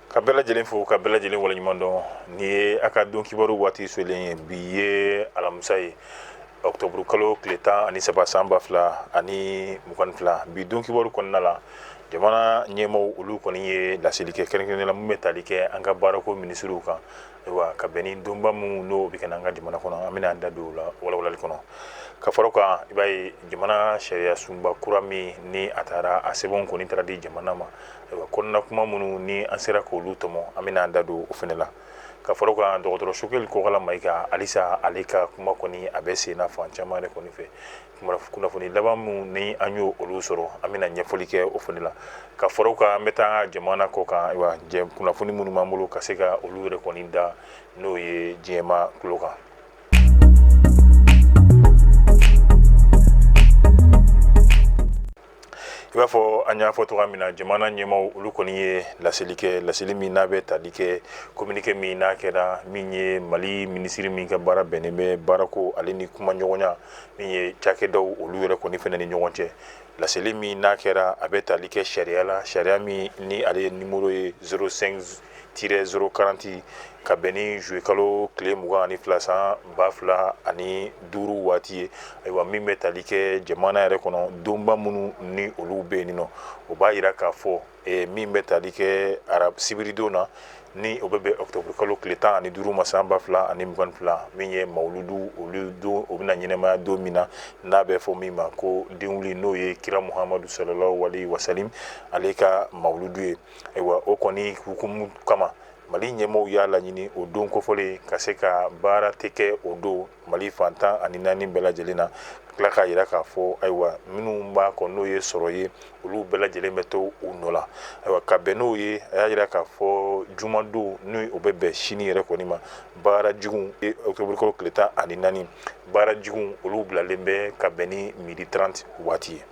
ka bɛɛ lajɛlen fo ka bɛɛ lajɛlen waleɲuman dɔn ni ye a ka don kibaru waati selen ye bi ye alamisa ye ɔktɔburu kalo tile tan ani saba san ba fila ani mugan ni fila bi don kibaru kɔnɔna la jamana ɲɛmaw olu kɔni ye laseli kɛ kɛrɛnkɛrɛnnenya la min bɛ tali kɛ an ka baarako minisiriw kan ayiwa ka bɛn ni donba minnu n'o bɛ kɛ an ka jamana kɔnɔ an bɛna an da don o la walawalali kɔnɔ ka fara kan i b'a ye jamana sariya sunba kura min ni a taara a sɛbɛn kɔni taara di jamana ma ayiwa kɔnɔna kuma minnu ni an sera k'olu tɔmɔ an bɛna an da don o fana la ka fara kan dɔgɔtɔrɔ sogɛli kokala mayiga halisa ale ka kuma kɔni a bɛ sen na fan caman de kɔni fɛ kunnafoni laban minnu ni an y'olu sɔrɔ an bɛna ɲɛfɔli kɛ o fana la ka fara o kan an bɛ taa jamana kɔkan ayiwa kunnafoni minnu b'an bolo ka se ka olu yɛrɛ kɔni da n'o ye diɲɛmaa tulo kan i b'a fɔ an y'a fɔ cogoya min na jamana ɲɛmaw olu kɔni ye laseli kɛ laseli min n'a bɛ tali kɛ kominike min n'a kɛra min ye mali minisiri min ka baara bɛnnen bɛ baarako ale ni kuma ɲɔgɔnya min ye cakɛdaw olu yɛrɛ kɔni fana ni ɲɔgɔn cɛ laseli min n'a kɛra a bɛ tali kɛ sariya la sariya min ni ale ye nimoro ye 05 Tiret 040 ka bɛn ni zuluye kalo tile mugan ani fila san ba fila ani duuru waati ye ayiwa min bɛ tali kɛ jamana yɛrɛ kɔnɔ donba minnu ni olu bɛ yen nɔ o b'a yira k'a fɔ min bɛ tali kɛ ara sibiridon na ni o bɛ bɛn ɔktɔburu kalo tile tan ani duuru ma san ba fila ani mugan fila min ye mawuludu olu don o bɛna ɲɛnamaya don min na n'a bɛ fɔ min ma ko denwuli n'o ye kira muhamadu salalahu aleyihi wasalamu ale ka mawuludu ye ayiwa o kɔni hukumu kama mali ɲɛmaw y'a laɲini o don kofɔlen ka se ka baara tɛ kɛ o don mali fan tan ani naani bɛɛ lajɛlen na tila k'a yira k'a fɔ ayiwa minnu b'a kɔ n'o ye sɔrɔ ye olu bɛɛ lajɛlen bɛ to u nɔ la ayiwa ka bɛn n'o ye a y'a yira k'a fɔ jumadon ni o bɛ bɛn sini yɛrɛ kɔni ma baara jigin ɔktɔburu kalo tile tan ani naani baara jigin olu bilalen bɛ ka bɛn ni midi trente waati ye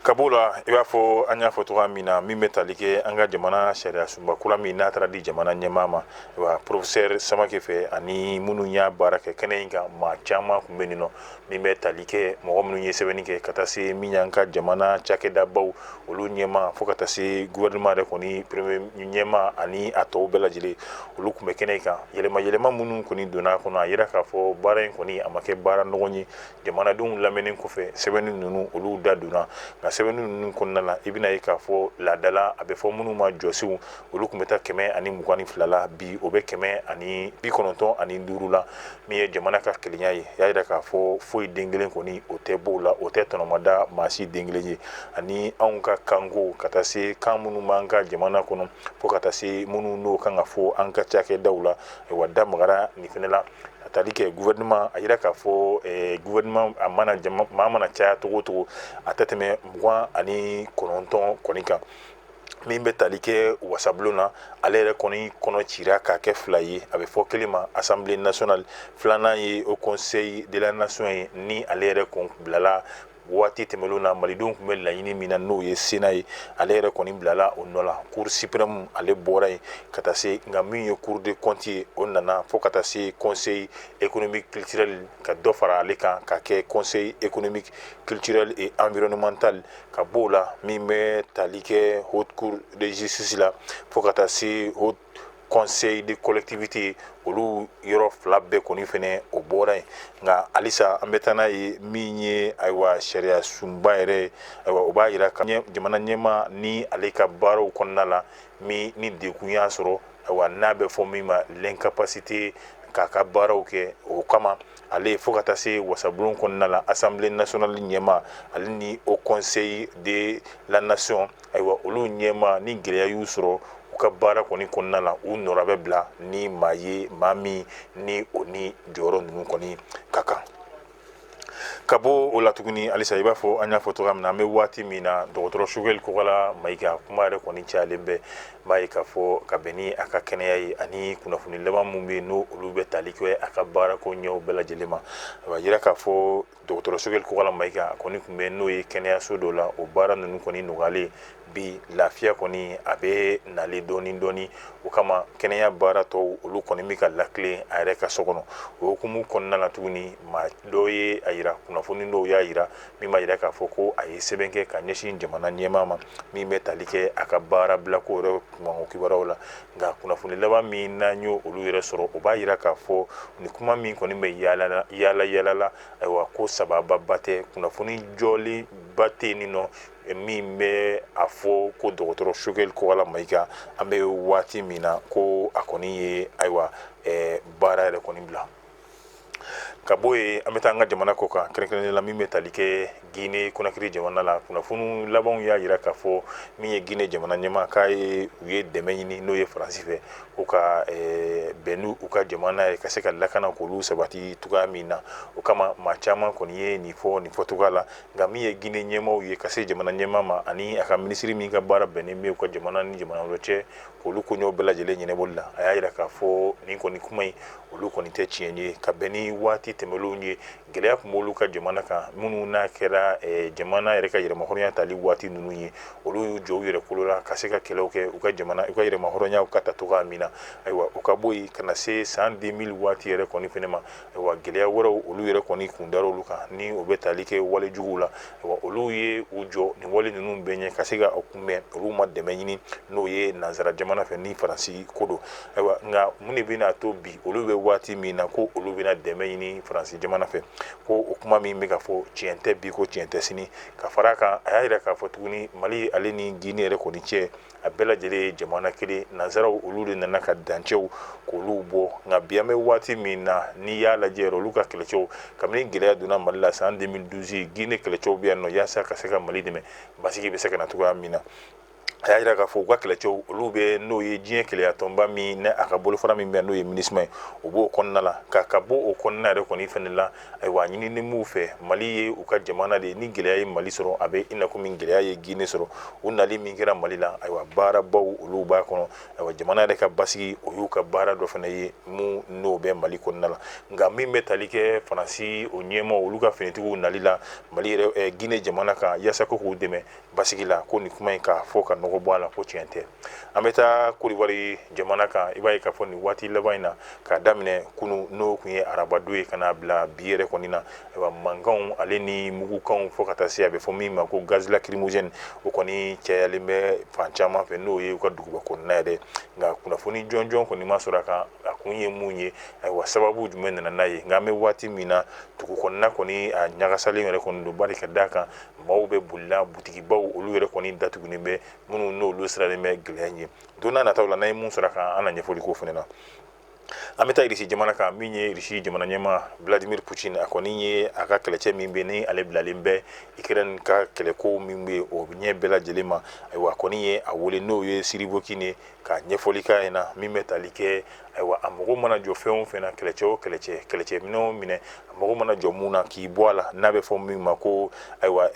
ka b'o la i b'a fɔ an y'a fɔ cogoya min na min bɛ tali kɛ an ka jamana sariya sunba kura min n'a taara di jamana ɲɛmaa ma wa porofesɛri samake fɛ ani minnu y'a baara kɛ kɛnɛ in kan maa caman tun bɛ nin nɔ min bɛ tali kɛ mɔgɔ minnu ye sɛbɛnni kɛ ka taa se min y'an ka jamana cakɛdabaw olu ɲɛmaa fo ka taa se gouvernement yɛrɛ kɔni premier ɲɛmaa ani a tɔw bɛɛ lajɛlen olu tun bɛ kɛnɛ in kan yɛlɛma yɛlɛma minnu kɔni donna a kɔnɔ a yira k'a fɔ baara in kɔni a ma kɛ baara nɔgɔn ye jamanadenw lamɛnni kɔfɛ sɛbɛnni ninnu olu da donna nka sɛbɛnni ninnu kɔnɔna na i bɛna ye k'a fɔ laadala a bɛ fɔ minnu ma jɔsenw olu tun bɛ taa kɛmɛ ani mugan ni fila la bi o bɛ kɛmɛ ani bi kɔnɔntɔn ani duuru la min ye jamana ka kelenya ye y'a yira k'a fɔ foyi den kelen kɔni o tɛ b'o la o tɛ tɔnɔmada maa si den kelen ye ani anw ka kanko ka taa se kan minnu b'an ka jamana kɔnɔ fo ka taa se minnu n'o kan ka fɔ an ka cakɛdaw la ayiwa da magara nin fɛnɛ la a tali kɛ gouvernement a yira k'a fɔ ɛɛ gouvernement a mana jama maa mana caya cogo o cogo a tɛ tɛmɛ mugan ani kɔnɔntɔn kɔni kan min bɛ tali kɛ wasabulon na ale yɛrɛ kɔni kɔnɔ cira k'a kɛ fila ye a bɛ fɔ kelen ma assemblée nationale filanan ye haut conseil de la nation ye ni ale yɛrɛ kun bilala waati tɛmɛlen na malidenw tun bɛ laɲini min na n'o ye sénat ye ale yɛrɛ kɔni bilala o nɔ la cour suprême ale bɔra yen ka taa se nka min ye cour des comptes ye o nana fo ka taa se conseil économique culturel ka dɔ fara ale kan ka kɛ conseil économique culturel et environnemental ka b'o la min bɛ tali kɛ haute cour de justice la fo ka taa se haut conseil des collectivités olu yɔrɔ fila bɛɛ kɔni fɛnɛ o bɔra yen nka halisa an bɛ taa n'a ye min ye ayiwa sariya sunba yɛrɛ ayiwa o b'a yira ka jamana ɲɛmaa ni ale ka baaraw kɔnɔna la min ni degun y'a sɔrɔ ayiwa n'a bɛ fɔ min ma l'incapacité k'a ka baaraw kɛ o kama ale fo ka taa se wasabulon kɔnɔna la assemblée nationale ɲɛmaa ale ni haut conseil de la nation ayiwa olu ɲɛmaa ni gɛlɛya y'u sɔrɔ u ka baara kɔni kɔnɔna la u nɔra bɛ bila ni maa ye maa min ni o ni jɔyɔrɔ ninnu kɔni ka kan ka bɔ o la tuguni halisa i b'a fɔ an y'a fɔ cogoya min na an bɛ waati min na dɔgɔtɔrɔ Sogɛli Kokala Mayiga kuma yɛrɛ kɔni cayalen bɛ N b'a ye k'a fɔ ka bɛn ni a ka kɛnɛya ye ani kunnafoni laban minnu bɛ yen n'o olu bɛ tali kɛ a ka baara koɲɛw bɛɛ lajɛlen ma a b'a yira k'a fɔ dɔgɔtɔrɔ Sogɛli Kokala Mayiga a kɔni tun bɛ n'o ye kɛnɛyaso dɔ la o baara ninnu kɔni nɔgɔyalen bi lafiya kɔni a bɛ nalen dɔɔni dɔɔni o kama kɛnɛya baara tɔw olu kɔni bɛ ka latilen a yɛrɛ ka so kɔnɔ o hukumu kɔnɔna na tuguni maa dɔ ye a yira kunnafoni dɔw y'a yira min b'a yira k'a fɔ ko a ye sɛbɛn kɛ ka ɲɛsin jamana ɲɛmaa ma min bɛ tali kɛ a ka baara bilako yɛrɛ kunkanko kibaruyaw la nka kunnafoni laban min n'an y'o olu yɛrɛ sɔrɔ o b'a yira k'a fɔ nin kuma min kɔni bɛ yaala yaala la ayiwa ko sababu ba tɛ kunnafoni jɔlen ba tɛ nin nɔ min bɛ a fɔ ko dɔgɔtɔrɔ Sogɛli Kokala Mayiga an bɛ waati min na ko a kɔni ye ayiwa baara yɛrɛ kɔni bila ka bɔ yen an bɛ taa an ka jamana kɔkan kɛrɛnkɛrɛnnen la min bɛ tali kɛ Guinée Conakry jamana la kunnafoni labanw y'a yira k'a fɔ min ye Guinée jamana ɲɛmaa k'a ye u ye dɛmɛ ɲini n'o ye Faransi fɛ u ka eh, bɛn n'u u ka jamana ye ka se ka lakana k'olu sabati cogoya min na o kama maa caman kɔni ye nin fɔ nin fɔcogoya la nka min ye Guinée ɲɛmaaw ye ka se jamana ɲɛmaa ma ani a ka minisiri min ka baara bɛnnen bɛ u ka jamana ni jamana wɛrɛ cɛ k'olu koɲɛw bɛɛ lajɛlen ɲɛnabɔli la a y'a yira k'a fɔ nin kɔni kuma in olu kɔni tɛ tiɲɛ ye ka bɛn ni waati tɛmɛlenw ye gɛlɛya tun b'olu ka jamana kan minnu n'a kɛra jamana yɛrɛ ka yɛrɛmahɔrɔnya tali waati ninnu ye olu y'u jɔ u yɛrɛ kolo la ka se ka kɛlɛw kɛ u ka jamana u ka yɛrɛmahɔrɔnya u k'a ta cogoya min na ayiwa u ka bɔ yen ka na se san 2000 waati yɛrɛ kɔni fɛnɛ ma ayiwa gɛlɛya wɛrɛw olu yɛrɛ kɔni kun dara olu kan ni o bɛ tali kɛ wale juguw la olu ye u jɔ nin wale ninnu bɛɛ ɲɛ ka se ka kunbɛn olu ma dɛmɛ ɲini n'o ye nanzara jamana fɛ ni faransi ko don ayiwa nka mun de bɛna a to bi olu bɛ waati min na ko olu bɛna dɛmɛ ɲini faransi jamana fɛ ko o kuma min bɛ ka fɔ tiɲɛ tɛ bi ko tiɲɛ tɛ sini ka fara a kan a y'a yira k'a fɔ tuguni mali ale ni gine yɛrɛ kɔni cɛ a bɛɛ lajɛlen ye jamana kelen nanzaraw olu de nana ka dancɛw k'olu bɔ nka bi an bɛ waati min na n'i y'a lajɛ olu ka kɛlɛcɛw kabini gɛlɛya donna mali la san 2012 gine kɛlɛcɛw bɛ yan nɔ yaasa ka se ka mali dɛmɛ basigi bɛ se ka na cogoya min na a y'a jira k'a fɔ u ka kɛlɛcɛw olu bɛ n'o ye diɲɛ kelenyatɔnba min ni a ka bolofara min bɛ n'o ye minusma ye o b'o kɔnɔna la ka ka bɔ o kɔnɔna yɛrɛ kɔni fɛnɛ la ayiwa a ɲininen b'u fɛ mali ye u ka jamana de ye ni gɛlɛya ye mali sɔrɔ a bɛ i n'a komi gɛlɛya ye gine sɔrɔ u nali min kɛra mali la ayiwa baarabaw olu b'a kɔnɔ ayiwa jamana yɛrɛ ka basigi o y'u ka baara dɔ fɛnɛ ye minnu n'o bɛ mali kɔnɔna la nka min bɛ tali kɛ faransi o ɲɛmaaw olu ka finitigiw nali la mali yɛrɛ gine jamana kan yaasa ko k'u dɛmɛ basigi la ko nin kuma in k'a fɔ ka nɔgɔ bɔ a la ko tiɲɛ tɛ an bɛ taa kodiwari jamana kan i b'a ye k'a fɔ nin waati laban in na k'a daminɛ kunu n'o kun ye arabadon ye ka n'a bila bi yɛrɛ kɔni na ayiwa mankanw ale ni mugukanw fɔ ka taa se a bɛ fɔ min ma ko gaz lacrymogène o kɔni cayalen bɛ fan caman fɛ n'o ye u ka duguba kɔnɔna yɛrɛ nka kunnafoni jɔnjɔn kɔni ma sɔrɔ a kan a kun ye mun ye ayiwa sababu jumɛn nana n'a ye nka an bɛ waati min na dugu kɔnɔna kɔni a ɲagasalen yɛrɛ kɔni don bari ka d'a kan maaw bɛ bolila butigibaw olu yɛrɛ kɔni datugunen bɛ minnu n'olu siralen bɛ gɛlɛya ɲɛ don n'a nataw la n'an ye mun sɔrɔ a kan an na ɲɛfɔli k'o fɛnɛ na an bɛ taa irisi jamana kan min ye irisi jamana ɲɛmaa vladimir putin a kɔni ye a ka kɛlɛcɛ min bɛ ni ale bilalen bɛ ikrɛni ka kɛlɛko min bɛ o ɲɛ bɛɛ lajɛlen ma ayiwa a kɔni ye a wele n'o ye surovikin ye ka ɲɛfɔli k'a ɲɛna min bɛ tali kɛ ayiwa a mago mana jɔ fɛn o fɛn na kɛlɛcɛ o kɛlɛcɛ kɛlɛcɛ minɛn o minɛn a mago mana jɔ mun na k'i bɔ a la n'a bɛ fɔ min ma ko ayiwa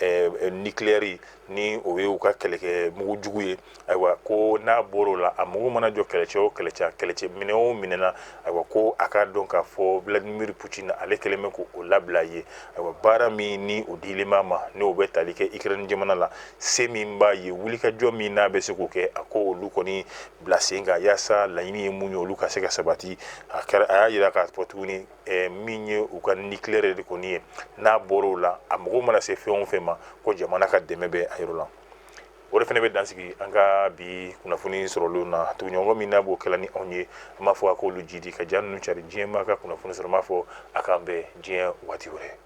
nucléaire ni o ye u ka kɛlɛkɛ mugu jugu ye ayiwa ko n'a bɔr'o la a mago mana jɔ kɛlɛcɛ o kɛlɛcɛ kɛlɛcɛ minɛn o minɛn na ayiwa ko a k'a dɔn k'a fɔ Vladimir Putin ale kɛlen bɛ k'o labila a ye ayiwa baara min ni o dilen b'a ma n'o bɛ tali kɛ Ukraine jamana la se min b'a ye wulikajɔ min n'a bɛ se k'o kɛ a k'olu kɔni bila sen kan yaasa laɲini ye mun ye olu ka se ka sabati a y'a yira k'a fɔ tuguni eh, min ye u ka nucléaire de kɔni ye n'a bɔra o la a mago mana se fɛn o fɛn ma ko jamana ka dɛmɛ bɛ a yɔrɔ la o de fɛnɛ bɛ dansigi an ka bi kunnafoni sɔrɔlenw na tuguɲɔgɔn min n'a b'o kɛla ni anw ye an b'a fɔ a k'olu jidi ka ja ninnu cari diɲɛ maa ka kunnafoni sɔrɔ n b'a fɔ a k'an bɛn diɲɛ waati wɛrɛ